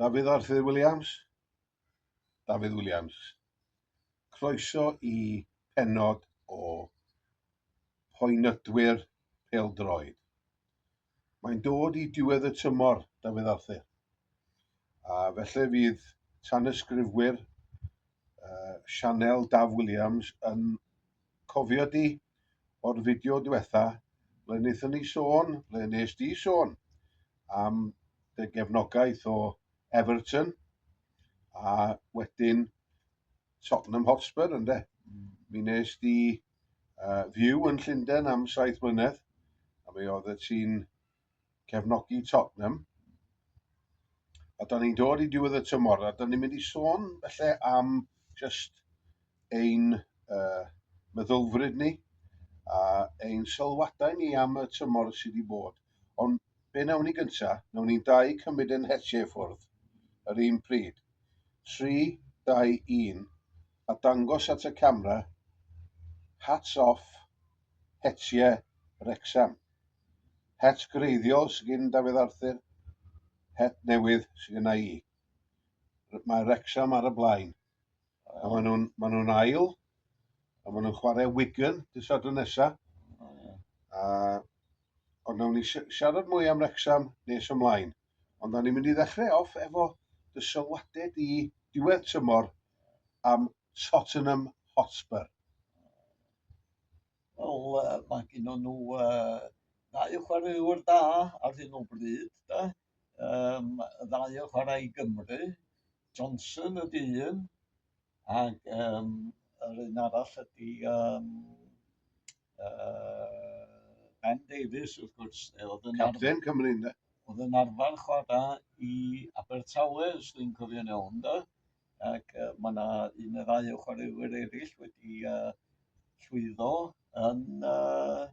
Dafydd Arthur Williams, Dafydd Williams. Croeso i penod o poenydwyr peldroed. Mae'n dod i diwedd y tymor, Dafydd Arthur. A felly fydd tanysgrifwyr uh, Sianel Daf Williams yn Cofio di, o'r fideo diwetha, ble wnaethon ni sôn, ble wnes di sôn am dy gefnogaeth o Everton a wedyn Tottenham Hotspur ynde. Mm. Mi wnes di uh, fyw yn Llundain am saith mlynedd a mi oedd y ti'n cefnogi Tottenham. A da ni'n dod i diwedd y tymor, a da ni'n mynd i sôn felly am just ein uh, meddylfryd ni a ein sylwadau ni am y tymor sydd wedi bod. Ond be nawn ni gyntaf, nawn ni'n dau cymryd yn hetiau ffwrdd yr un pryd. 3, 2, 1, a dangos at y camera, hats off, hetiau Rexham. Het gwreiddiol sy gin Dafydd Arthur, het newydd sy gynna i. Mae Wrecsam ar y blaen. Oh. A maen nhw'n ma nhw ail, a maen nhw'n chwarae Wigan dy sadwn nesaf. Oh, yeah. a, ond nawn ni siarad mwy am Wrecsam nes ymlaen. Ond nawn ni'n mynd i ddechrau off efo dy sylwadau di diwedd tymor am Tottenham Hotspur. Wel yy mae gynnon nhw yy ddau o chwaraewr da ar hyn o bryd 'de yym y ddau o chwarae i Gymru, Johnson ydy un ac yym yr un arall ydy yym yy Ben Davies wrth gwrs yy o'dd yn arfer... Capten Cymru ynde? ...o'dd yn arfer chwara i Abertawe os dwi'n cofio'n iawn 'de? ac uh, mae yna un neu ddau o chwaraewyr eraill wedi uh, llwyddo yn uh,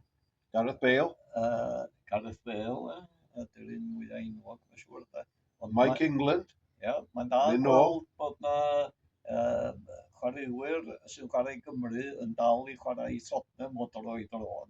Gareth Bale. Uh, Gareth Bale, uh, dy'r un mwyaf enwog, mae'n siŵr. Da. Ond Mike ma, England. Ie, yeah, mae'n da gweld bod na uh, chwaraewyr sy'n chwarae Gymru yn dal i chwarae i Tottenham o dro i dro.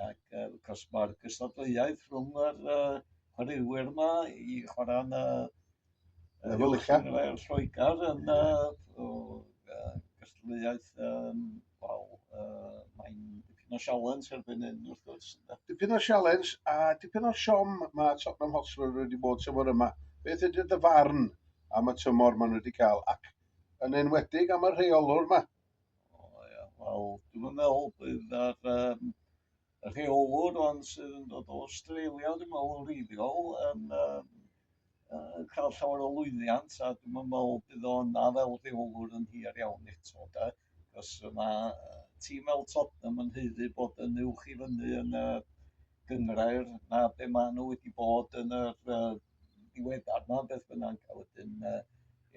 Ac uh, cos mae'r gystadleuaeth rhwng yr uh, chwaraewyr yma i chwarae yn y uh, Llyfrllian Lloegr yn uh, uh, gystadleuaeth um, wel, uh, mae'n dipyn o sialens erbyn hyn wrth gwrs. Dipyn o sialens a dipyn o siom mae Tottenham Hotspur wedi bod tymor yma. Beth ydy'r dyfarn am y tymor maen nhw wedi cael ac yn enwedig am y rheolwr yma, O ia, wel dwi'm yn meddwl bydd yr yym y rheolwr ond sydd yn dod o Australia dwi'n meddwl yn wreiddiol yn yym yy cael llawer o lwyddiant a dwi'm yn meddwl bydd o yna fel rheolwr yn hir iawn eto de, achos mae yy tîm fel Tottenham yn haeddu bod yn uwch i fyny yn y gynghrair na be' maen nhw wedi bod yn yr yy diweddar 'ma beth bynnag a wedyn yy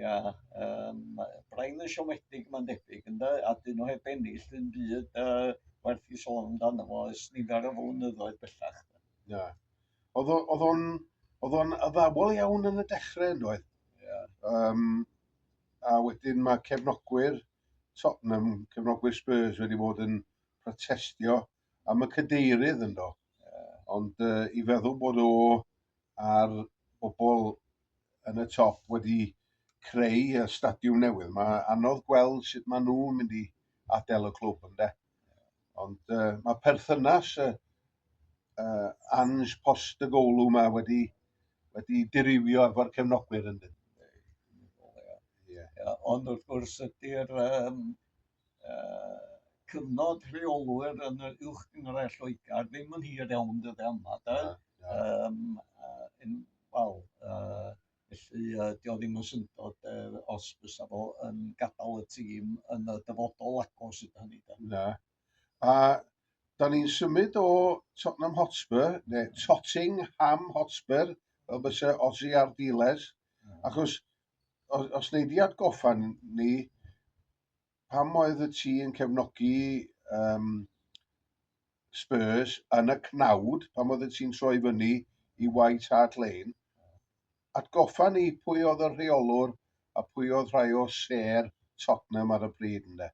ia yym mae braidd yn siomedig mae'n debyg ynde a 'dyn nhw heb ennill dim byd yy werth i sôn amdano fo ers nifer o flynyddoedd bellach. Ia. Oedd o oedd o'n oedd o'n addawol iawn yn y dechrau yn doedd? Ia. Um, a wedyn mae cefnogwyr Tottenham, cefnogwyr Spurs wedi bod yn protestio am y cydeirydd ynddo. Yeah. Ond uh, i feddwl bod o a'r bobl yn y top wedi creu y stadiwm newydd. Mae anodd gweld sut maen nhw'n mynd i adael y clwb ynde. Ond uh, mae perthynas y uh, Ange Post y golw yma wedi, wedi dirywio efo'r cefnogwyr ynde. Yeah. Yeah. Ond wrth gwrs ydy'r um, cyfnod rheolwyr yn yr uwch gynghrair Lloegr ddim yn hir iawn dydde yma, da. Um, uh, yn, wel, uh, felly uh, dio ddim yn syndod uh, os bysa fo yn gadael y tîm yn y dyfodol agos ydy hynny. Da. Na. A da ni'n symud o Tottenham Hotspur, neu Totting Ham Hotspur, fel bysa Ozzy Ardiles, achos os, os neud i atgoffa ni, pam oedd y ti yn cefnogi um, Spurs yn y cnawd, pam oedd y ti'n troi fyny i White Hart Lane, atgoffa ni pwy oedd y rheolwr a pwy oedd rhai o ser Tottenham ar y pryd ynddo.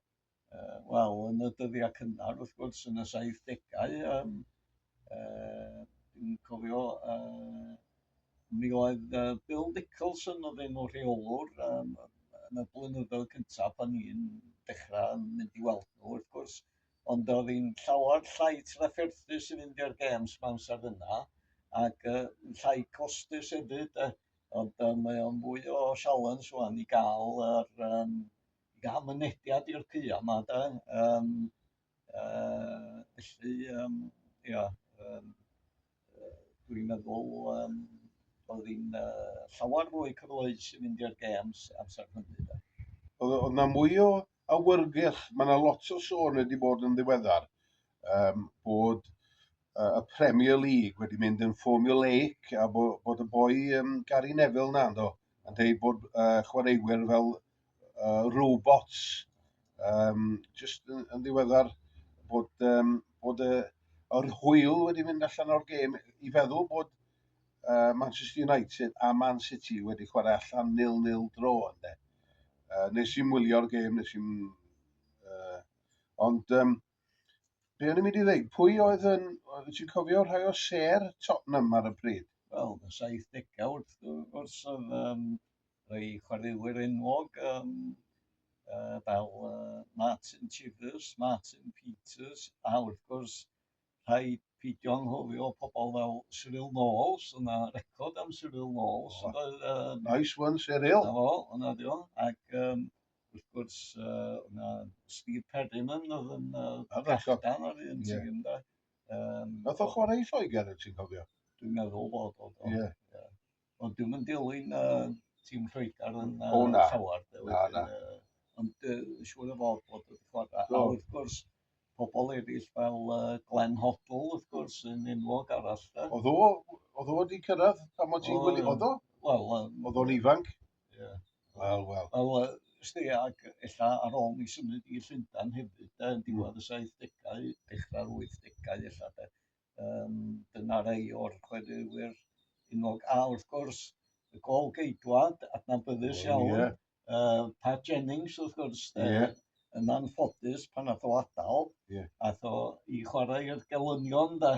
Uh, Wel, yn y dyddiau cynnar, wrth gwrs, yn y 70au, um, Yy dwi'n cofio yy mi oedd yy Bill Nicholson oedd enw rheolwr yym yn y blynyddoedd cynta' pan i'n dechra mynd i weld nhw wrth gwrs ond oedd hi'n llawer llai trafferthus i fynd i'r gêms 'ma amser yna ac yy llai costus hefyd yy ond yy mae o'n fwy o sialens ŵan i ga'l yr yym i ga'l mynediad i'r caeau 'ma de yym Uh, felly, um, ia, um, dwi'n meddwl um, oedd hi'n uh, llawer fwy cyfleus i fynd i'r games amser hynny. Da. Oedd na mwy o awyrgylch, mae yna lot o sôn wedi bod yn ddiweddar um, bod uh, y Premier League wedi mynd yn formulaic a bod, bod y boi um, Gary Neville na, do, yn dweud bod uh, chwaraewyr fel uh, robots, um, just yn, yn ddiweddar bod, um, bod y, yr hwyl wedi mynd allan o'r gêm i feddwl bod uh, Manchester United a Man City wedi chwarae allan nil-nil dro ynddo. Uh, nes i'n wylio'r gêm, nes i'n... Uh, ond um, Be o'n i'n mynd i ddweud? Pwy oedd yn... Ti'n cofio rhai o ser Tottenham ar y pryd? Wel, y 70au wrth gwrs oedd um, rhai chwaraewyr enwog um, uh, fel uh, Martin Chivers, Martin Peters, a wrth gwrs rhai pidio anghofio pobl fel Cyril Knowles, yna record am Cyril Knowles. Oh. Oedd, um, nice one, Cyril. Na fo, yna di o. Ac um, Wrth gwrs, oedd yna Steve Perryman oedd yn brechdan ar un tîm, ynde. Nath o chwarae i Lloegr, ti'n cofio? Dwi'n meddwl bod o. Ie. Ond dwi'n yn dilyn tîm Lloegr yn llawer. Na, na. Ond siŵr o fod bod wedi chwarae. A wrth gwrs, pobl eraill fel Glenn Hoddle, wrth gwrs, yn enwog arall. Oedd o, oedd o wedi cyrraedd pan o ti'n gwneud, oedd o? Wel, oedd o'n ifanc. Ie. Wel, wel. Wel, yy, ysdi, ac ella ar ôl mi symud i Llundan hefyd, de, yn diwedd y 70au, dechrau'r 80au ella, de. Um, dyna rei o'r chwaraewyr unog. A wrth gwrs, y gol geidwad, adnabyddus iawn, yeah. uh, Pat Jennings, wrth gwrs, de. Yeah. yn anffodus pan nath o adael, yeah. ath o i chwarae i'r gelynion da.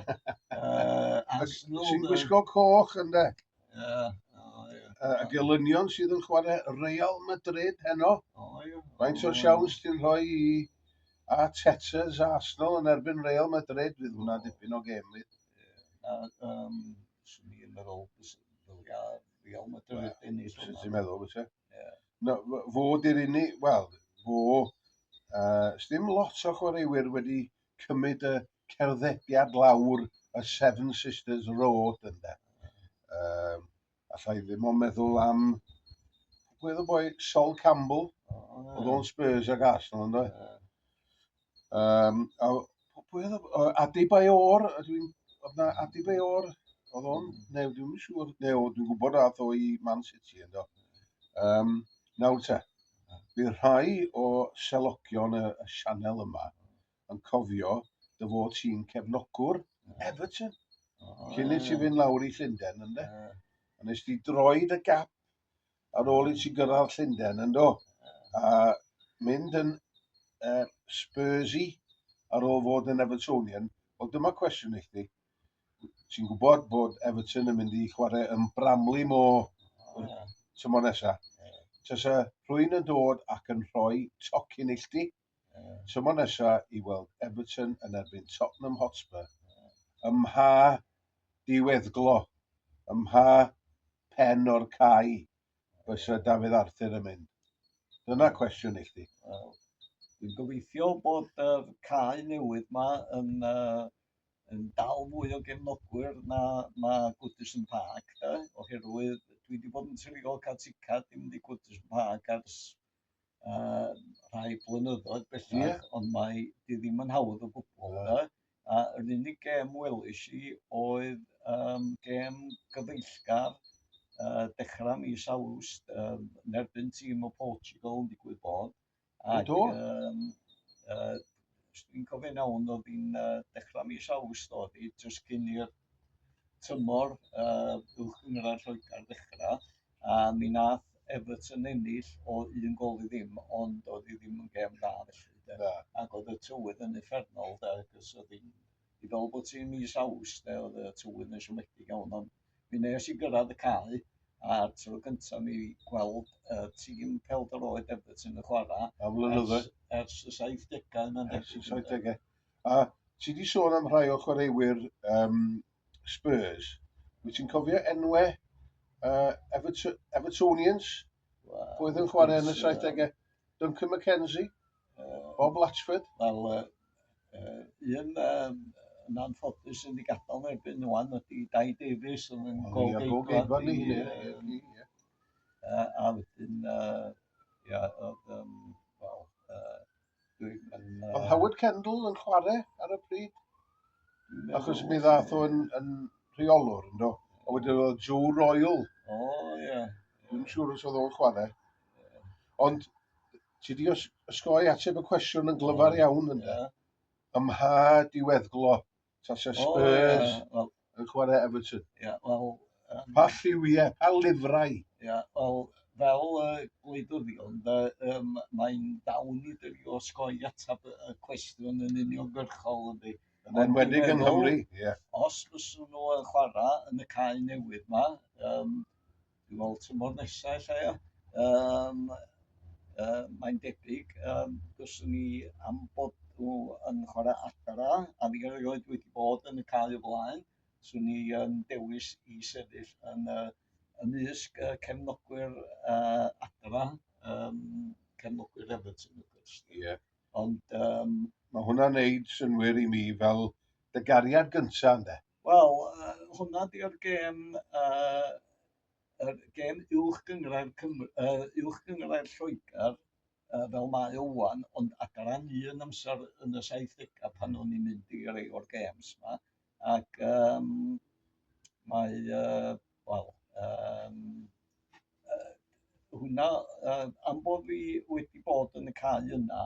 uh, Arsenal. Sy'n gwisgo coch yn da. Yeah. Oh, yeah. y gelynion sydd yn chwarae Real Madrid heno. Oh, yeah. Faint o siawns ti'n rhoi i a Tetzers a Arsenal yn erbyn Real Madrid fydd hwnna dipyn o gem fydd. Yeah. Um, Swn i'n meddwl, Real Madrid yn ei Swn i'n meddwl, fysa. Yeah. No, fo di'r unig, wel, fo, uh, ddim lot o chwaraewyr wedi cymryd y cerddediad lawr y Seven Sisters Road yna. Um, allai ddim o'n meddwl am gwedd y boi Sol Campbell, oh, oedd o'n Spurs ac Arsenal ynddo. Yeah. Um, a, pwy oedd o? Adi Bayor, ydw i'n... Oedd na Adi Bayor, oedd o'n... Neu, dwi'n yn siŵr, neu dwi'n gwybod rath o i Man City ynddo. Um, nawr te, bydd rhai o selogion y, y sianel yma yn cofio dy fod ti'n cefnogwr Everton. Oh, Cyn i ti fynd lawr i Llundain, ynddo? Yeah. A nes ti droed y gap ar ôl i ti gyrraedd Llundain, yndo? A mynd yn uh, Spursy ar ôl fod yn Evertonian. Wel, dyma cwestiwn i chdi. Ti'n gwybod bod Everton yn mynd i chwarae yn Bramley mo tymor nesaf? Tasa rhywun yn dod ac yn rhoi tocyn i chdi? tymor nesaf i weld Everton yn erbyn Tottenham Hotspur ym mha diweddglo, ym mha phen o'r cae fysa Dafydd Arthur yn mynd? Dyna cwestiwn i chdi. Wel, dwi'n gobeithio bod y uh, cae newydd yma yn, uh, yn dal fwy o gefnogwyr na, na Goodison Park, da, oherwydd dwi wedi bod yn trigol cael ticad i mynd i Goodison Park ers yy rhai blynyddoedd bellach... Ie. ...ond mae 'di ddim yn hawdd o gwbl de. A yr unig gêm welish i oedd yym gêm gyfeillgar yy dechra mis Awst yym yn erbyn tîm o Portugal yn digwydd bod ag... Do? ...yym yy os dwi'n cofio'n iawn oedd hi'n yy dechra mis Awst oedd hi jyst cyn i'r tymor yy uwch gynghrair Lloegr ddechra. A mi nath Everton ennill o un gol i ddim, ond oedd hi ddim yn gêm dda felly. De. Na. Ac oedd y tywydd yn effernol, de, cys oedd hi'n... I fel bod ti'n mis aws, de, oedd y tywydd yn siomedig iawn, ond mi nes i gyrraedd y cae, a'r tro cyntaf mi gweld y tîm pelder oed Everton yn chwarae... Am flynyddoedd. Ers, ers y 70au, mae'n debyg. Ers y 70au. A ti di sôn am rhai o chwaraewyr um, Spurs. Wyt ti'n cofio enwau uh, Everton, Evertonians? Wow. Pwy oedd yn chwarae yn y 70au? Duncan McKenzie? Uh, Bob Latchford? Wel, uh, uh, un um, yn anffodus yn ei gadael yn erbyn nhw'n ydy Dai Davies yn yn gol geidfa ni. A wedyn, ia, oedd, um, wel, Oedd Howard Kendall yn chwarae ar y pryd? Achos mi ddath o'n yn rheolwr, ynddo. A wedyn oedd Joe Royal. O, oh, ie. Yeah. Dwi'n siŵr os oedd o'n chwarae. Yeah. Ond ti di osgoi ateb y cwestiwn yn glyfar iawn, ynddo. Yeah. Ymha diweddglo. Tasa Spurs oh, yeah. yn chwarae Everton. Yeah, well, um, pa lliwiau, pa lyfrau? Yeah, well, fel uh, gwleidwr fi, ond uh, um, mae'n dawn i dy fi osgoi atab y cwestiwn yn uniongyrchol ydy. Yn enwedig yn Nghymru, ie. Os fyswn nhw yn chwarae yn y cae newydd yma, um, Dwi'n meddwl tymor nesa ella ia? Yym yy mae'n debyg yym fyswn i am bod nhw yn chwarae adra a fi erioed wedi bod yn y cae o flaen, swn i yn dewis i sefyll yn yy ymysg y cefnogwyr yy adra yym cefnogwyr Everton wrth gwrs. Ie. Ond yym... Mae hwnna'n neud synnwyr i mi fel dy gariad gynta' ynde? Wel yy hwnna 'di'r gêm yy yr gêm uwch gynghrair Cym- yy uwch gynghrair Lloegr yy fel mae o ŵan ond adran un amser yn y saithdega pan o'n i'n mynd i rei o'r gêms 'ma ac yym mae yy wel yym yy hwnna yy am bo' fi wedi bod yn y cae yna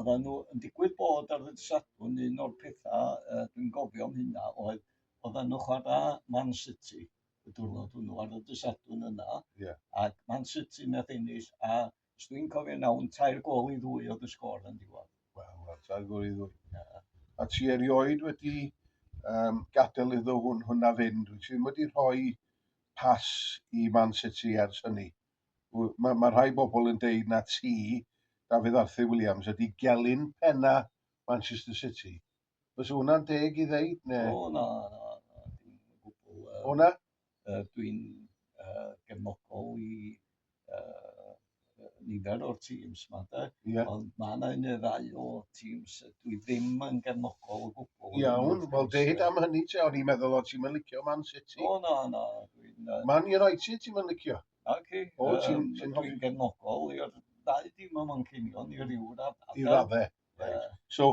oddan nhw yn digwydd bod ar ddydd Sadwrn un o'r petha yy dwi'n gofio am hynna oedd oddan nhw chwara Man City y diwrnod hwnnw ar y dydd Sadwrn yna... Ie. ...ac Man City nath ennill a Os dwi'n cofio nawn, tair gol i ddwy oedd y sgôr yn diwedd. Wel, wel, tair gol i ddwy. Yeah. A ti erioed wedi um, gadael iddo hwn, hwnna fynd, wyt ti ddim wedi rhoi pas i Man City ers hynny. Mae ma rhai bobl yn deud na ti, Dafydd Arthur Williams, ydy gelyn penna Manchester City. Os yw hwnna'n deg i ddeud, neu... O, na, na, na, dim yn gwbl. Uh, o, na? Uh, Dwi'n uh, gefnogol i uh, nifer o'r tîms yma, de. Yeah. Ond mae yna un neu ddau o tîms dwi ddim yn gefnogol o gwbl. Iawn, wel deud am hynny te, o'n i'n meddwl o ti'n mynd licio Man City. O, na, na. Dwi'n... Uh, Man United ti'n mynd licio? Na, ci. O, ti'n... Um, dwi'n gefnogol i'r ddau dim yma'n cynio, ni ryw raddau. I raddau. So,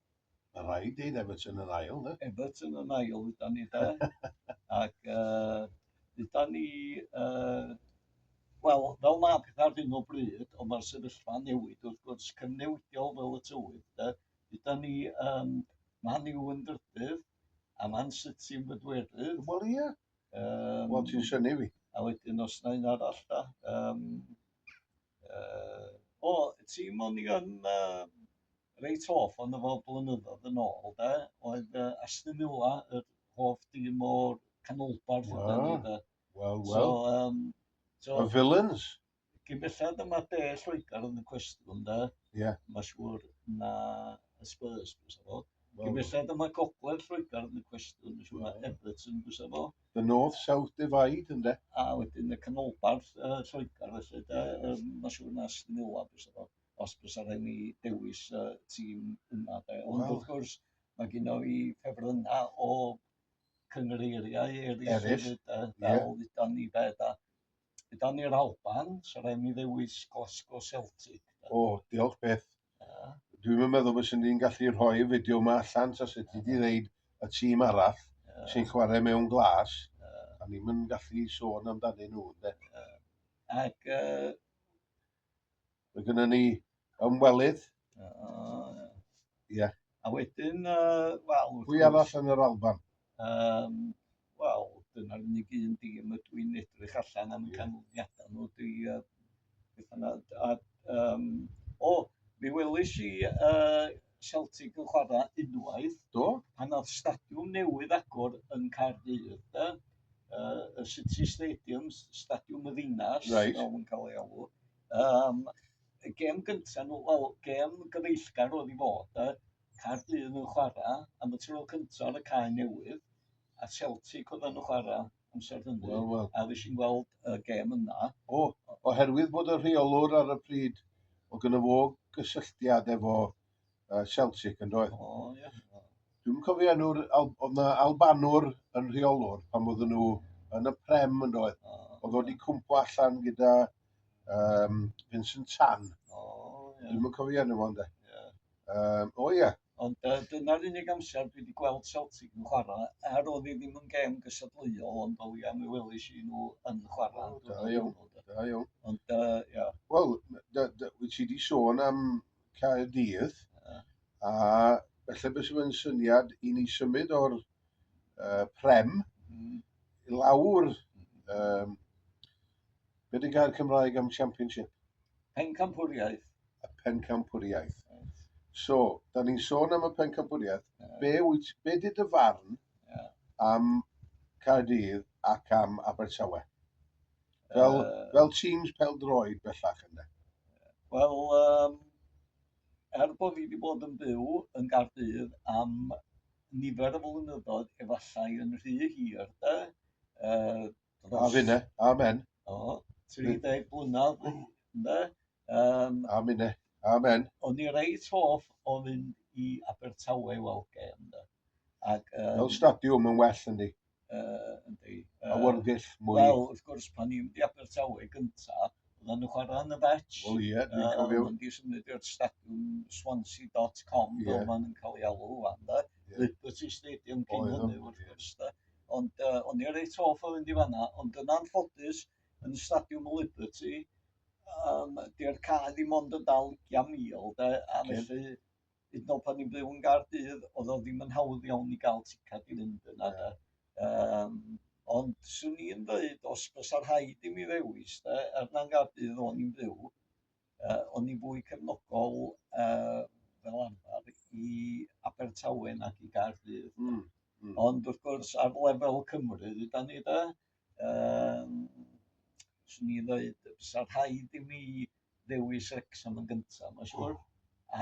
Mae'n rhaid deud Everton yn ail, de? Everton yn ail, da ni de. Ac uh, da ni... Uh, Wel, fel mae pethau ar hyn o bryd, ond mae'r sefyllfa newid wrth gwrs cynnewidiol fel y tywydd. De? Da ni um, man i'w yn drydydd, a man City yn bedwerydd. Wel ie. Um, Wel ti'n syni fi. A wedyn os na un arall da. Um, Uh, o, ti mon i yn uh, reit hoff ond efo blynyddoedd yn ôl, de, oedd uh, Aston Villa yr hoff dim o'r canolbarth wow. yna ni, de. Wel, wel. So, um, so, y villains. Gyn bellad dyma de Lloegr yn y cwestiwn, de. Ie. Yeah. Mae siŵr na y Spurs, bwys o fod. Gyn bellad dyma gogledd Lloegr yn y cwestiwn, mae siŵr na Everton, bwys o fod. The North South Divide ynde? A wedyn y canolbarth uh, Lloegr felly de, um, mae'n siŵr na Snilla bys efo, os bys ar hynny dewis uh, tîm yma de. Ond well. wrth gwrs, mae gen i ffefrynna o cyngreiriau eraill, eraill. Sydd, uh, fel yeah. ni fe da. Gyda ni'r Alban, so rhaid ni ddewis Glasgow Celtic. O, diolch beth. Yeah. Dwi'n yn meddwl bod sy'n ni'n gallu rhoi y fideo yma allan, sa sut ti di ddeud y tîm arall yeah. sy'n chwarae mewn glas, yeah. a ni'n mynd gallu sôn amdanyn nhw, de. Yeah. Ac uh, Mae gennym ni ymwelydd. Ie. A wedyn, uh, wel... Pwy arall yn yr Alban? Um, wel, dyna'r unig un dîm y dwi'n edrych allan am canlyniadau nhw. Dwi, uh, a, um, o, mi welis i uh, Celtic yn chwarae unwaith. Do. Pan oedd stadiwm newydd agor yn Caerdydd, de, uh, y City Stadium, stadiwm y ddinas, right. fel yn cael ei alw. Um, y gem gyntaf nhw, wel, gem gyfeillgar oedd i fod, de, Caerdydd yn chwarae am y tro cyntaf ar y cae newydd, a Celtic oedd yn chwarae amser Dundee. Wel, wel. A fues i'n gweld y gêm yna. O, oherwydd bod y rheolwr ar y pryd o gyda fo gysylltiad efo uh, Celtic yn doedd. O, oh, ie. Yeah. Dwi'n cofio enw'r, oedd yna Albanwr yn rheolwr pan oedden nhw yn y Prem yn doedd. Oh, oedd wedi cwmpo allan gyda um, Vincent Tan. Oh, yeah. Dwi'n cofio enw fo, ynddo. Um, o ie. Yeah. Ond uh, dyna'r unig amser dwi wedi gweld Celtic yn chwarae, er oedd hi ddim yn gem gysadleuol, ond fel ia, mi welish i nhw yn chwarae. Oh, da iawn, da iawn. Ond, uh, ia. Wel, wyt ti wedi sôn am Caerdydd, uh. a felly beth sy'n syniad i ni symud o'r uh, prem mm. i lawr um, Be di gair Cymraeg am championship? Pencampwriaeth. Y pencampwriaeth. Right. So, da ni'n sôn am y pencampwriaeth. Yeah. Be, wyt, be di dy farn yeah. am Caerdydd ac am Abertawe? Fel, uh, fel teams pel droed bellach yna. Wel, um, er bod fi wedi bod yn byw yn Gardydd am nifer o flynyddoedd, efallai yn rhy hir, de, uh, A finne, amen. O, 30 blynedd, ynde? Um, a minne, amen. O'n i reit hoff o fynd i Abertawe i weld gem, ynde? Ac, um, Fel stadiwm yn well yn di. Uh, yndi. Uh, a wyrgyll mwy. Wel, wrth gwrs, pan i'n di Abertawe gyntaf, oedden nhw chwarae yn y fetch. Wel ie, dwi'n uh, cofio. Oedden di symud i'r stadiwm swansea.com, yeah. fel ma'n cael ei alw, wan, da. Yeah. Liberty Stadium cyn hynny, wrth gwrs, da. ond yy o'n i ar reit hoff o fynd i fanna ond yn anffodus yn y Stadiwm y Liberty um, di'r cae ddim ond yn dal ugian mil de a felly hyd yn oed pan ni'n byw yn Gaerdydd oedd o ddim yn hawdd iawn i gael ticad i fynd yna de. Um, ond swn i'n dweud os bysa rhaid i mi ddewis de er na'n Gaerdydd o'n i'n byw Yy o'n i'n fwy cefnogol yy fel arfar i Abertawe nag i Gaerdydd. Hmm, hmm. Ond wrth gwrs ar lefel Cymru ydan ni de yym swn i ddeud fysa rhaid i mi ddewis Wrecsam yn gynta, mae'n siŵr.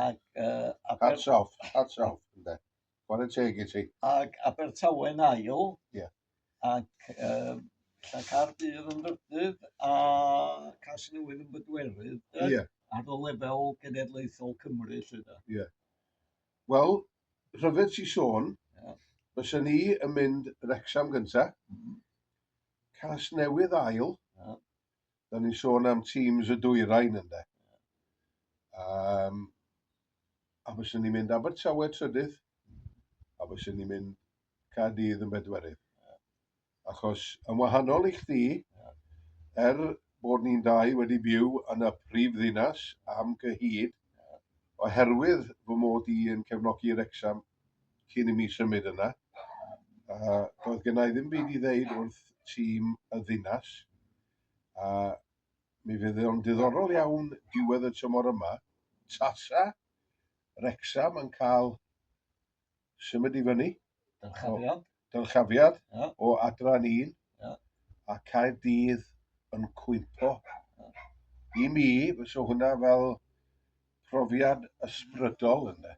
Ac uh, Aber... Hats off, hats off, ynde. Chwarae teg i ti. Ac Abertawe'n ail. Ie. Yeah. Ac yy ta Caerdydd yn drydydd a Casnewydd yn bedwerydd de? Ie. Ar y lefel genedlaethol Cymru 'lly de? Ie. Wel, rhyfedd ti sôn, yeah. fysa ni yn mynd Wrexham gynta, mm -hmm. Casnewydd ail, yeah. Do'n ni'n sôn am teams y dwyrain ynde. Um, a fyswn ni'n mynd Abertawe trydydd, a fyswn ni'n mynd Cadydd yn bedwerydd. Achos yn wahanol i chdi, er bod ni'n dau wedi byw yn y prif ddinas am gyhyd, oherwydd fy mod i yn cefnogi Rexham cyn i mi symud yna, a doedd gennau ddim byd i ddeud wrth tîm y ddinas, a mi fydd o'n diddorol iawn diwedd y tymor yma, tasa Wrecsam yn cael symud i fyny, dyrchafiad, dyrchafiad yeah. o adran un, yeah. a Caerdydd yn cwympo. Yeah. I mi, fyso hwnna fel profiad ysbrydol yna.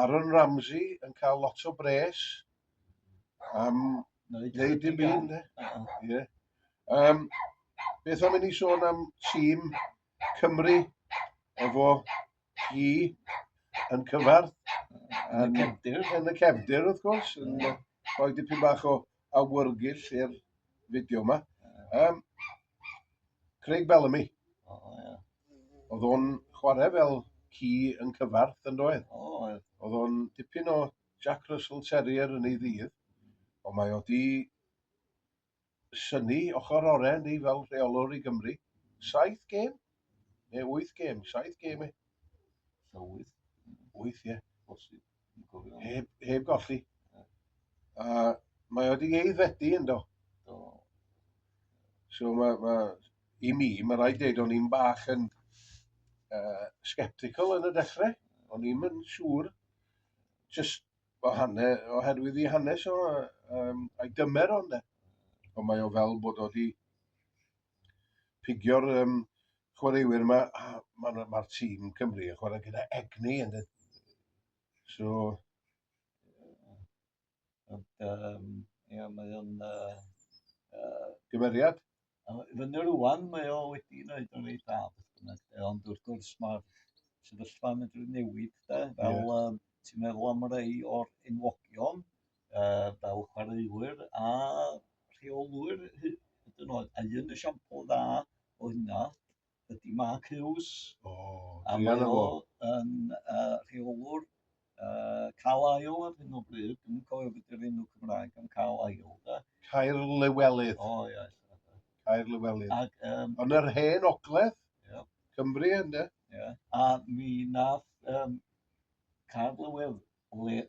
Aaron Ramsey yn cael lot o bres am wneud dim byd. Yeah. Um, beth am i ni sôn am tîm Cymru efo hi yn cyfarth yn y cefndir, yn y cefndir wrth gwrs, yn rhoi dipyn bach o awyrgylch i'r fideo yma. Um, Craig Bellamy. O, oh, ie. Yeah. Oedd o'n chwarae fel ci yn cyfarth yn doedd. O, oh, ie. Yeah. Oedd o'n dipyn o Jack Russell Terrier yn ei ddydd. Ond mae o di syni ochr oren ni fel rheolwr i Gymru. Saith gêm? Neu wyth gêm, saith gêm e? So wyth. Wyth, ie. Bosib. Heb, heb golli. A mae wedi ei ddedi yn do. Do. So mae, ma, i mi, mae rhaid dweud o'n i'n bach yn uh, sceptical yn y dechrau. O'n i'n yn siŵr, just o hanne, oherwydd i hanes o, um, a'i dymer o'n de. Ond mae o fel bod o wedi pigio'r um, chwaraewyr yma, mae'r ma, ma tîm Cymru yn chwarae gyda egni. And it, so, um, yeah, mae o'n uh, uh, gymeriad. Fyny rwan, mae o wedi wneud yn ei da, ond wrth gwrs mae'r sefyllfa yn medru newid, da, fel yeah. um, ti'n meddwl am rei o'r enwogion, yy fel chwaraewyr a rheolwyr hyd yn oed, a un esiampl dda o hynna ydy Mark Hughes. O, a mae o yn uh, rheolwr uh, Cal Ail ar hyn o bryd, dwi'n cofio beth yw'r enw Cymraeg am Cal Ail. Da. Cair Lywelydd. O, ie. Cair Lywelydd. Ac, um, Ond yr hen ogledd, yeah. Cymru ynddo. Yeah. A mi nath um, Cair Lywelydd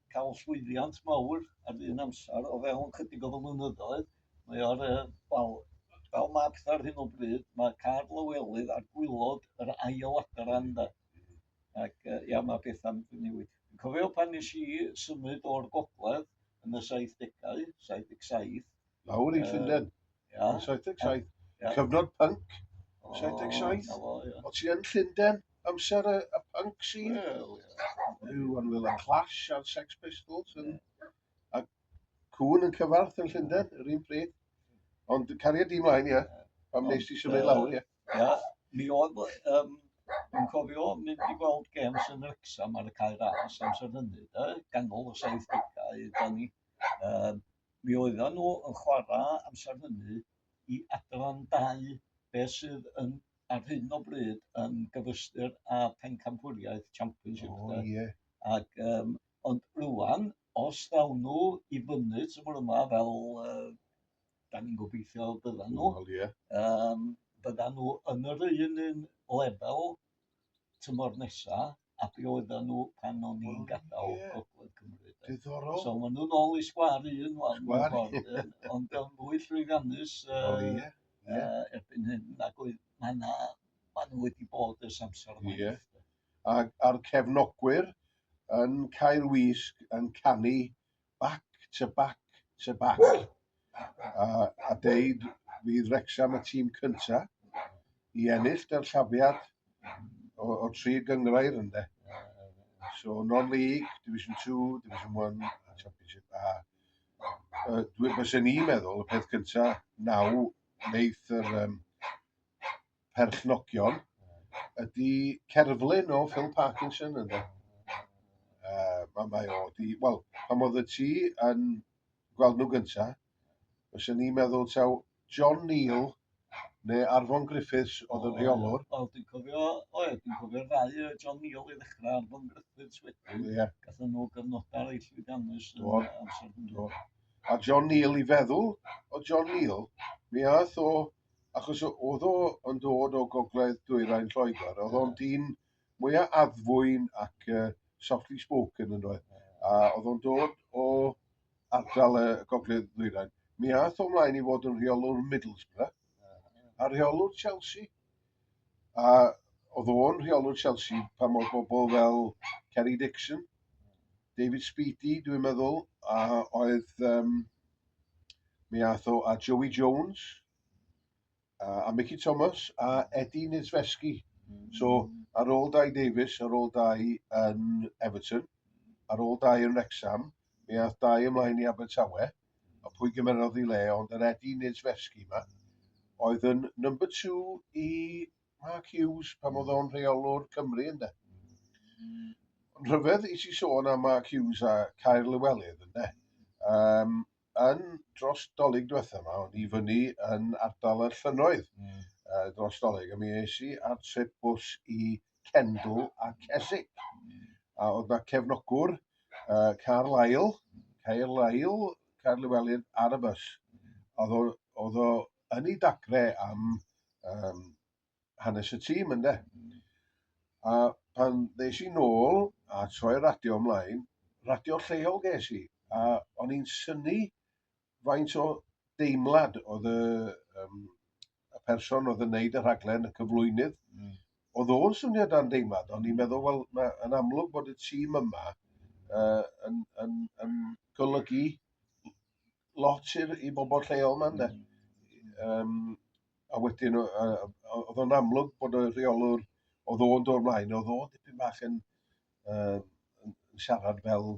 cael llwyddiant mawr ar un amser o fewn chydig o flynyddoedd. Mae o'r, uh, wel, fel mae pethau ar hyn o bryd, mae Carl Lywelydd ar gwylod yr ail adran da. Ac uh, ia, mae pethau'n newid. Cofio pan nes i symud o'r gogledd yn y 70au, 77, Lawr i Llundain. Ia. 77. Ia. Cyfnod punk. 77. O, o, ia. O ti yn Llundain? Amser y, y punk scene? Wel, ia. Yw, ond fel y Clash a'r Sex Pistols yn... A cwn yn cyfarth yn Llundain, yr un pryd. Ond cariad di mlaen, ia. Pam nes ti symud lawr, ia. Ia. Mi oedd, um, yn cofio mynd i gweld games yn Wrexham ar y cae ras amser hynny, da, ganol y 70au, da ni. Um, Mi oeddan nhw yn chwarae amser hynny i Adran Dau, be sydd yn ar hyn o bryd yn gyfystyr â Phencampwriaeth Championship de. O ie. Ac yym ond rŵan os ddaw nhw i fyny tymor yma fel yy da ni'n gobeithio byddan nhw. Wel ie. Yym byddan nhw yn yr un un lefel tymor nesa a be oedden nhw pan o'n i'n oh, gadael yeah. Gogledd Cymru. Diddorol. So maen nhw'n ôl i sgwar un wan. Sgwar un. Ond o'n fwy llwyddiannus uh, oh, yeah. Yeah. Uh, erbyn hyn. Ac oedd maen nhw wedi bod ys amser yma. Yeah. A'r cefnogwyr yn cael wisg yn canu back to back to back a, a deud fydd Wrecsam y tîm cyntaf i ennill dyrllafiad o, o tri gyngrair ynde. So non-league, Division 2, Division 1 a Championship A. Uh, Dwi'n meddwl y peth cyntaf naw wneud yr um, perchnogion ydy cerflun o Phil Parkinson yn dda. Uh, mae, mae o di, wel, pan oedd y ti yn gweld nhw gynta, os o'n i'n meddwl taw John Neal neu Arfon Griffiths oedd yn rheolwr. Wel, dwi'n cofio, o ie, dwi'n cofio'r ddau o John Neal i ddechrau Arfon Griffiths wedyn. Ie. Yeah. Gathen nhw gyfnodau reit llwyddiannus yn amser hwnnw. A John Neal i feddwl o John Neal, mi ath o achos oedd o yn dod o gogledd dwyrain Lloegr, oedd o'n dyn mwyaf addfwyn ac uh, softly spoken yn oedd, a oedd o'n dod o ardal y gogledd ddwyrain. Mi ath o mlaen i fod yn rheolwr Middlesbrough, a rheolwr Chelsea, A oedd o'n rheolwr Chelsea pan oedd bobl fel Kerry Dixon, David Speedy, dwi'n meddwl, a oedd... Um, mi ath o a Joey Jones, a, a Mickey Thomas, a Eddie Nizveski. Mm. So, ar ôl dau Davis, ar ôl dau yn Everton, ar ôl dau yn Wrexham, mi ath dau ymlaen i Abertawe, a pwy gymerodd i le, ond yr Eddie Niedzwiecki yma, oedd yn number two i Mark Hughes pan oedd o'n rheolwr Cymru ynddo. Ond rhyfedd i ti sôn am Mark Hughes a Caer Lywelydd ynddo. Um, yn dros dolyg diwetha yma, o'n i fyny yn ardal y llynnoedd mm. uh, dros dolyg, a mi eisi ar trip bws i Kendal a Keswick. A oedd yna cefnogwr, uh, Carl Lyle, Cael Lyle, Cael Llewelyn ar y bus. Oedd o yn ei dagre am um, hanes y tîm ynde. A pan ddeis i nôl a troi radio ymlaen, radio lleol ges i, a o'n i'n syni faint o deimlad oedd y, um, y person oedd yn neud y rhaglen, y cyflwynydd, mm. oedd o'n swnio dan deimlad, ond i'n mm. meddwl, wel, mae yn amlwg bod y tîm yma uh, yn, yn, yn golygu lot i'r, i bobl lleol yma, ynddo. Mm. Um, a wedyn, uh, oedd o'n amlwg bod y rheolwr oedd o'n dod ymlaen, oedd o'n dipyn bach yn, uh, yn siarad fel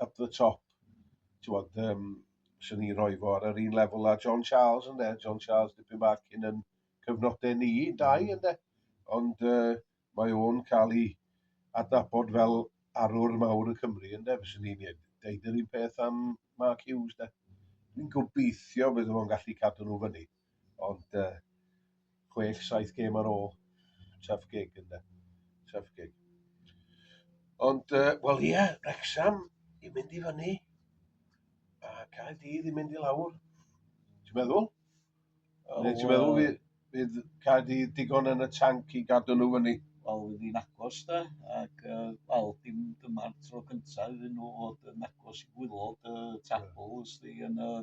up the top, ti'n bod, um, sy'n ni roi fo ar yr un lefel a John Charles yn de. John Charles dipyn bach cyn yn cyfnodau ni, dau yn de. Ond uh, mae o'n cael ei adnabod fel arwr mawr y Cymru yn de. Fyswn ni'n deud yr un peth am Mark Hughes de. Dwi'n gobeithio bydd o'n gallu cadw nhw fyny. Ond uh, chwech, saith gêm ar ôl, tough gig ynddo. Tough gig. Ond, uh, wel ie, yeah, Rexham i mynd i fyny, a cael dydd i mynd i lawr. Ti'n meddwl? Oh, Neu ti'n meddwl fydd, fydd cael dydd digon yn y tanc i gadw nhw fyny? Wel, fydd hi'n agos da, ac uh, wel, dim dyma'r tro cyntaf iddyn nhw fod yn agos i gwylod y uh, tabl, ysdi, yn y uh,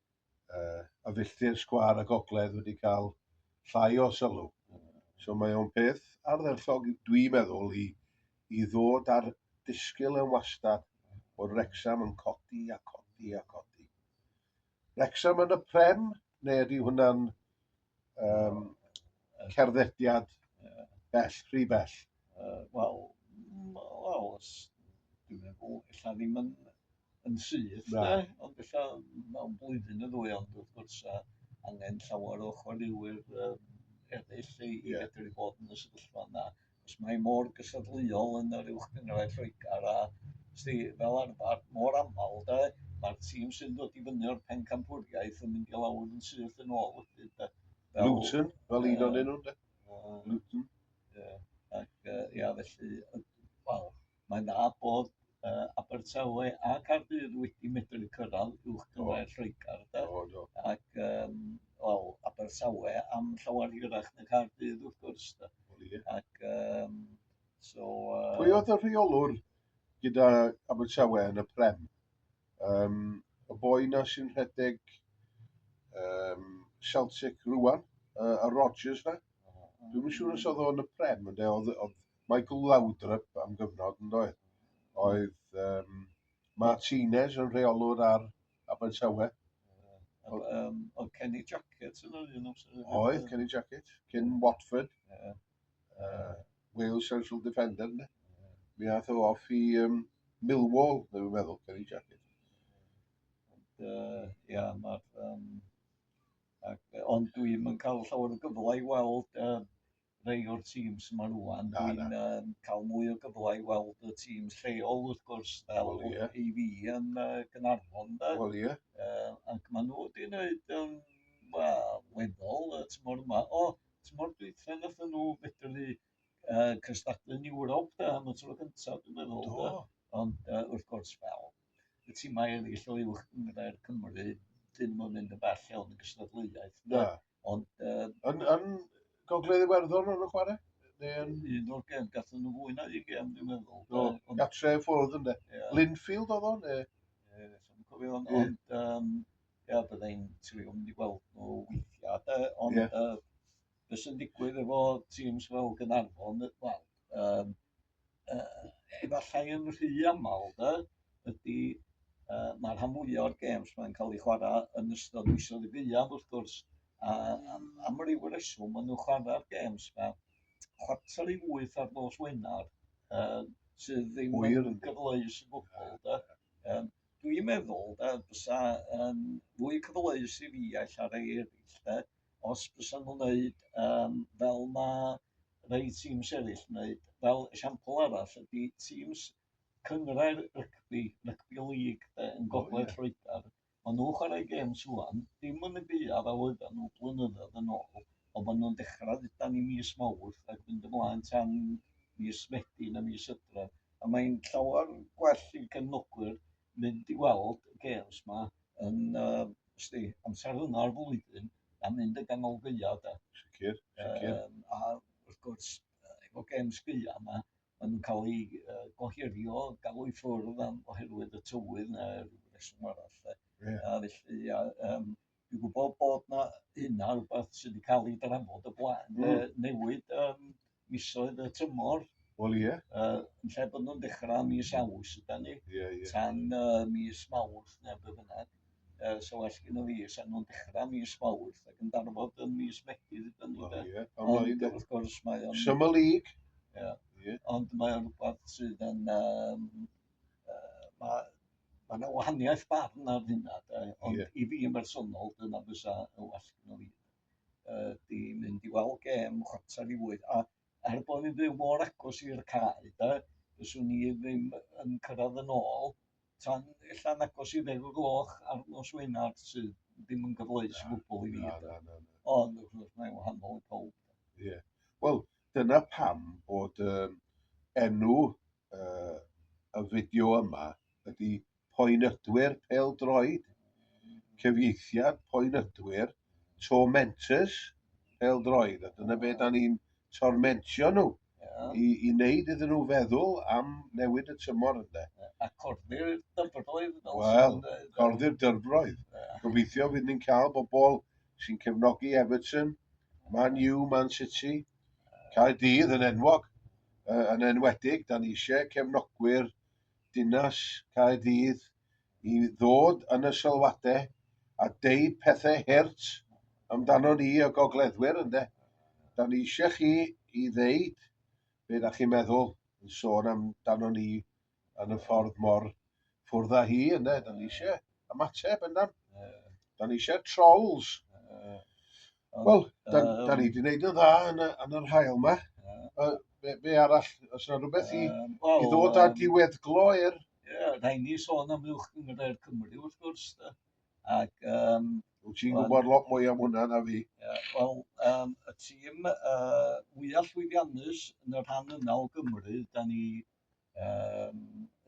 uh, a filltir sgwar a gogledd wedi cael llai o sylw. So mae o'n peth ardderllog, dwi'n meddwl, i, i ddod ar disgyl yn wastad bod Rexham yn codi a codi a codi. Rexham yn y prem, neu ydy hwnna'n Yym cerddediad bell, rhy bell. Yy wel wel os dwi'n meddwl ella ddim yn yn syth de, ond ella mewn blwyddyn neu ddwy ond wrth gwrs yy angen llawer o chwaraewyr yym eraill i i fedru bod yn y sefyllfa yna. Os mae mor gystadleuol yn yr Uwch Gynghrair Lloegr a, sti, fel arfer, mor aml, de, mae'r tîm sy'n dod i fyny o'r pencampwriaeth yn mynd i lawr yn syth yn ôl wedyn, de. Fel, Luton, fel un o'n enw, de. Luton. Ie, ac, uh, ia, felly, wel, Mae'n dda bod uh, Abertawe a Cardydd wedi medru cyrraedd uwch gyrraedd Lloegr. Do, do. Ac, um, wel, Abertawe am llawer hirach na Cardydd, wrth gwrs. Da. Ac, um, so... Uh... Pwy oedd y rheolwr gyda Abertawe yn y Prem? Um, y boi na sy'n rhedeg um, Celtic rwan, uh, a Rogers na? Dwi'n siŵr os oedd o'n y Prem, ynde, oedd Michael Laudrup am gyfnod yn doedd? Oedd um, Martinez yn rheolwr ar Abertawe. Oedd um, oedd Kenny Jacket yn yr un amser. Oedd, Kenny Jacket, cyn Watford. Yeah. Uh, Wales Central Defender, ne? Yeah. Mi ath o off i um, Millwall, neu fi'n meddwl, Kenny Jacket. Ia, uh, yeah, mae'r... Um, ac, ond dwi'n yn cael llawer o gyfle i weld uh, rhai o'r tîms yma rwan. Na, Dwi'n na. Um, cael mwy o gyfle i weld y tîm lleol, wrth gwrs, fel well, yeah. i fi yn uh, Gynarfon. Wel, ie. Uh, ac maen nhw wedi gwneud um, well, weddol y tymor yma. O, tymor dwytha nath nhw fedru uh, cystadlu'n Ewrop da, am y tro gyntaf, dwi'n meddwl. Do. Ond uh, wrth gwrs, fel, y timau eraill o uwch gynghrair Cymru, dyn nhw'n mynd yn bell iawn yn gystadleuaeth. Na. Ond... Uh, yn, yn Gogledd Iwerddon o'n nhw'n chwarae? Yn... Un o'r gem, gathen nhw fwy na un gem, dwi'n meddwl. Do, ond... gatre ffwrdd ynddo. Yeah. Linfield oedd o'n? Ie, yeah, dwi'n cofio hwn. Yeah. Ond, um, ia, byddai'n trio mynd i weld nhw weithiau, de, ond... Yeah. Uh, be' sy'n digwydd efo tîms fel Gaernarfon yy wel yym yy efallai yn rhy aml de ydi yy ma' rhan fwya o'r gêms 'ma'n ca'l 'u chwara' yn ystod misoedd y gaeaf wrth gwrs a a am ryw reswm ma' nw chwara'r gêms 'ma chwarter i wyth ar nos Wenar yy sydd ddim yn... Hwyr yndi. ...gyfleus o gwbwl de yym Dwi'n meddwl de bysa yn fwy cyfleus i fi a ella rei eraill de os bysa nhw'n wneud um, fel mae rei tîms eraill yn wneud. Fel esiampl arall ydy tîms cyngrair rygbi, rygbi lig de, yn gogledd oh, yeah. Lloegr. Maen nhw'n chwarae gêm swan, dim yn y gyda fel oedden nhw blynyddoedd yn ôl, ond maen nhw'n dechrau ddudan i mis mawrth ac mynd ymlaen tan mis Medi na mis Ydref. A mae'n llawer yn gwell i gefnogwyr mynd i weld y gêms 'ma yn yy sdi amser yma o'r flwyddyn na mynd yn ganol gaeaf de. Sicr, sicr. Yym a wrth gwrs yy efo gêms gaeaf yma ma' nhw'n cael eu yy gohirio, galw i ffwrdd am oherwydd y tywydd neu ryw reswm arall de. Ie. A felly a yym Dwi'n gwbo bod 'na hynna rwbath sydd 'di ca'l 'i drafod o blaen yy hmm. newid yym misoedd y tymor. Wel ie. Yy yn lle bod nhw'n dechra mis Awst ydan ni. Ie ie. Tan uh, mis Mawrth neu be' bynnag. Yy so well gynno fi sa nhw'n dechra mis Mawrth ac yn darfod yn mis Medi ydan ni de. Ie. Ond wrth gwrs mae o'n... Summer League. Ie. Ond mae o'n rhywbeth sydd yn um, uh, mae Mae yna wahaniaeth barn ar hynna, de, ond yeah. i fi yn bersonol, dyna fysa y well gyda fi. Uh, di mynd i weld gem chwarter i fwyd, a er bod ni'n byw mor agos i'r cae, de, fyswn ni ddim yn cyrraedd yn ôl tan ella'n agos i ddeg o gloch ar nos Wener sydd ddim yn gyfleus i gwbl i fi. Ond wrth gwrs mae'n wahanol i pawb. Ie. Wel, dyna pam bod um, enw uh, y fideo yma ydy poenydwyr peldroed, cyfieithiad poenydwyr, tormentors peldroed, a dyna be da ni'n tormentio nhw i, i wneud iddyn nhw feddwl am newid y tymor yna. A corddi'r dyfroedd. Wel, corddi'r dyfroedd. Gobeithio fydd ni'n cael bobl sy'n cefnogi Everton, Man U, Man City, Caerdydd yn enwog, yn enwedig, dan ni eisiau cefnogwyr dinas Caerdydd i ddod yn y sylwadau a deud pethau hurt amdano ni y gogleddwyr ynde. Dan ni eisiau chi i ddeud be da chi'n meddwl yn sôn amdano ni yn y ffordd mor ffwrdd â hi, yna, da ni eisiau ymateb yna. Da ni eisiau trolls. Wel, da, da ni wedi gwneud yn dda yn, yn yr hael yma. Uh, be, be arall, os yna rhywbeth i, um, well, i ddod â diweddglo i'r... Ie, da ni sôn am uwch gyngre'r Cymru, wrth gwrs. Ac um, Wyt ti'n gwybod lot mwy am hwnna na fi? Wel, um, y tîm uh, fwyaf llwyddiannus yn y rhan yna o Gymru, da ni yym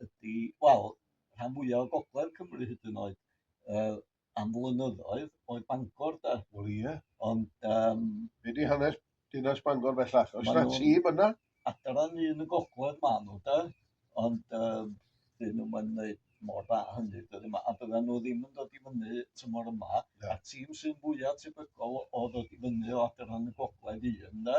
ydi wel rhan fwya' o gogledd Cymru hyd yn oed yy am flynyddoedd oedd Bangor 'de? Wel ie. Ond yym... Be' 'di hanes dinas Bangor bellach? Oes 'na tîm yna? Adran un y gogledd ma' nhw 'de ond yym 'dyn nhw'm yn neud mor dda a hynny dyddiau yma, a byddan nhw ddim yn dod i fyny tymor yma, yeah. a'r tîm sy'n fwyaf tebygol o ddod i fyny o adran y gogledd un yna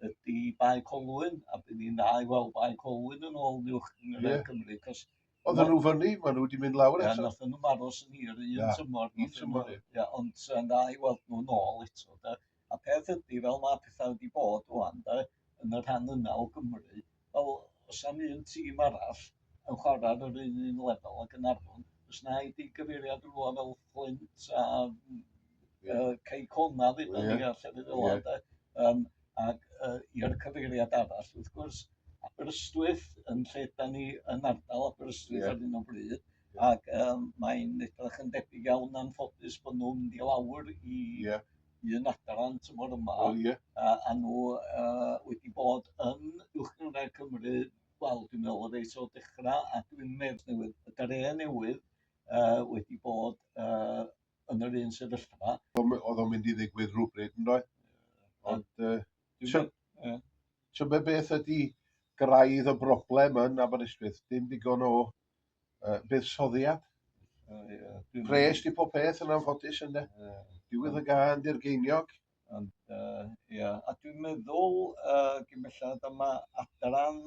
ydy Bae Colwyn, a bydd ni'n dda i weld Bae Colwyn yn ôl niwch yn yeah. Cymru, cos Oedden nhw fyny, maen nhw wedi mynd lawr eto. Ie, nath nhw'n aros yn hir, un tymor. Un tymor, ie. Ond yn dda i weld nhw'n ôl eto, da. A'r peth ydy, fel mae pethau wedi bod ŵan de, yn y rhan yna o Gymru, wel, os am un tîm arall yn chwarae ar yr un un lefel â Gaernarfon, os na i di gyfeiriad rhywle fel Fflint a uh, Cei Cona ddyn yeah. ni a llefydd fel yeah. de, um, ac uh, i'r cyfeiriad arall, wrth gwrs, Aberystwyth yn lle da ni yn ardal Aberystwyth yeah. ar un o bryd, yeah. ac um, mae'n edrych yn debyg iawn anffodus bod nhw'n mynd i lawr i yeah. un adran tymor yma. O, ie. A, a nhw uh, wedi bod yn Uwchgynghrair Cymru, wel, dwi'n meddwl o reis o dechrau, a dwi'n meddwl newydd, y dare newydd uh, wedi bod uh, yn yr un sefyllfa. Oedd o'n mynd i ddigwydd rhywbryd yn dweud? Ond, uh, ti'n meddwl beth ydy graidd y broblem yn Aberystwyth? Dim digon o Yy buddsoddiad. Yy ie. Dwi'n... Pres di pob peth yn anffodus ynde? Ie. Diwedd y gân di'r geiniog. Ond yy ia, a dwi'n meddwl yy gin bellad y ma' adran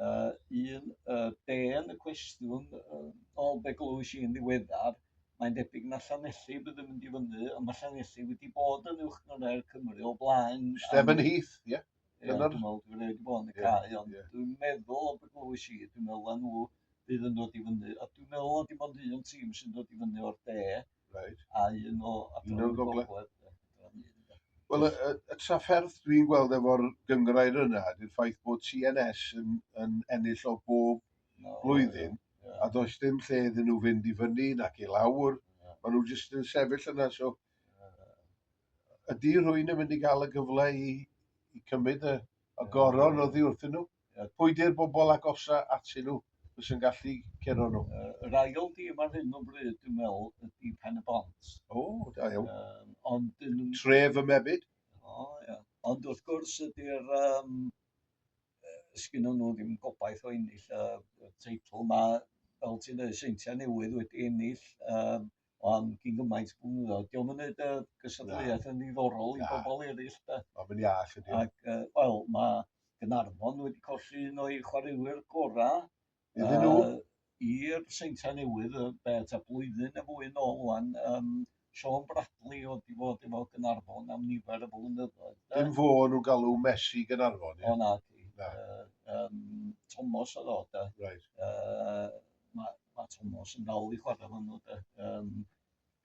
yy un yy de yn y cwestiwn yy ôl be' glywais i'n ddiweddar, mae'n debyg na Llanelli bydd yn mynd i fyny, ond ma' Llanelli wedi bod yn Uwch Gynghrair Cymru o blaen. Stephen Heath, ie. Ie, Dyna'r- dwi'n meddwl dwi'n rhaid i fod yn y Ie, cae, ond ie. dwi'n meddwl o be glywais i, dwi'n meddwl na nhw fydd yn dod i fyny, a dwi'n meddwl na dim ond un tîm sy'n dod i fyny o'r de, Reit. a un o Un o'r gogledd. de. Dyna ni, ynde. Wel, y, y, y trafferth dwi'n gweld efo'r gyngrair yna, ydy'r ffaith bod CNS yn, yn ennill o bob No, blwyddyn, Ie. a does dim lle iddyn nhw fynd i fyny nac i lawr. Ie. Maen nhw jyst yn sefyll yna, so Ydy rhywun yn mynd i gael y gyfle i, i cymryd y, y goron oddi wrthyn nhw? Yeah. Pwy di'r bobl agosa atyn nhw fes yn gallu cero nhw? Uh, yr ail dîm ar hyn o bryd, dwi'n meddwl, ydy Pen y Bont. O, oh, da iawn. Um, ond dyn nhw... Tref y Mebyd. O, oh, ia. Yeah. Ond wrth gwrs ydy'r... Um, sgyn nhw ddim gobaith o ennill y uh, teitl mae fel ti'n dweud, seintiau newydd wedi ennill um, o am gyn gymaint o blynyddoedd. Diolch yn gwneud y gystadleuaeth yn ddiddorol i bobl eraill. Da. Mae fe'n iach ydy. Ac, uh, wel, mae Gynarfon wedi colli un o'i chwaraewyr gorau. Iddyn nhw? Uh, I'r Seinta Newydd, y beth a blwyddyn y fwy yn ôl wan, um, Sean Bradley oedd wedi fod efo Gynarfon am nifer y blynyddoedd. Dim fo nhw galw Messi Gynarfon, ie? O na, di. Na. Uh, um, Thomas oedd o, da. Right. Uh, ma' ma' Tomos yn dal i chwara hwnnw 'de yym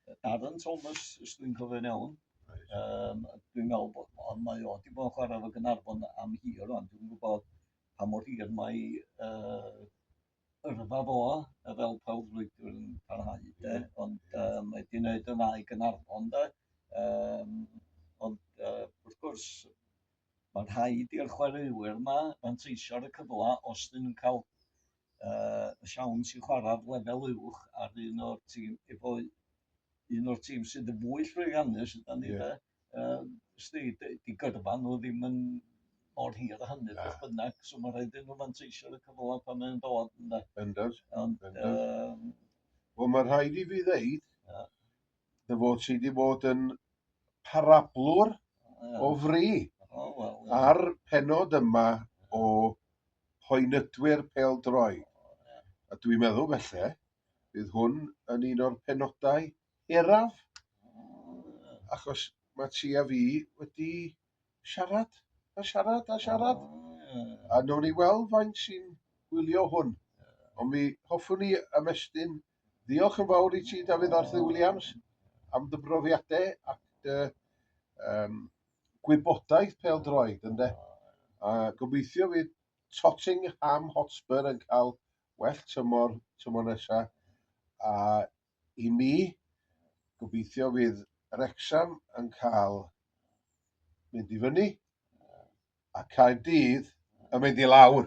yy Darren Thomas os dwi'n cofio'n iawn. Reit. Yym dwi'n me'wl bo' o mae o 'di bo' yn chwara efo Gaernarfon am hir rŵan dwi'm yn gwbod pa mor hir mae yy yrfa fo yy fel prawflwydwr yn parhau 'de ond yy mae 'di neud yn dda i Gaernarfon 'de yym ond yy wrth gwrs ma' rhaid i'r chwaraewyr 'ma fanteisio ar y cyfla os 'dyn nhw'n ca'l yy siawns i chwarae'r lefel uwch ar un o'r tîm efo un o'r tîm sydd yn fwy llwyddiannus ydan ni de. Yym sdi dy- di gyrfa nhw ddim yn mor hir a hynny beth bynnag so mae'n rhaid iddyn nhw fanteisio ar y cyfle pan mae'n dod ynde? Bendant. Ond yym... Wel mae'n rhaid i fi ddeud Dy fod ti wedi bod yn parablwr o fri ar penod yma o Hoenydwyr Pêl-droed. A dwi'n meddwl felly, bydd hwn yn un o'r penodau hiraf, achos mae ti a fi wedi siarad a siarad a siarad, a nawn ni weld faint sy'n gwylio hwn. Ond mi hoffwn i ymestyn Diolch yn fawr i ti, Dafydd Arthur Williams, am dy brofiadau ac dy um, gwybodaeth peldroed, ynddo. A gobeithio fydd Tottenham Hotspur yn cael well tymor, tymor nesa. A i mi, gobeithio fydd Rexham yn cael mynd i fyny a cael dydd yn mynd i lawr.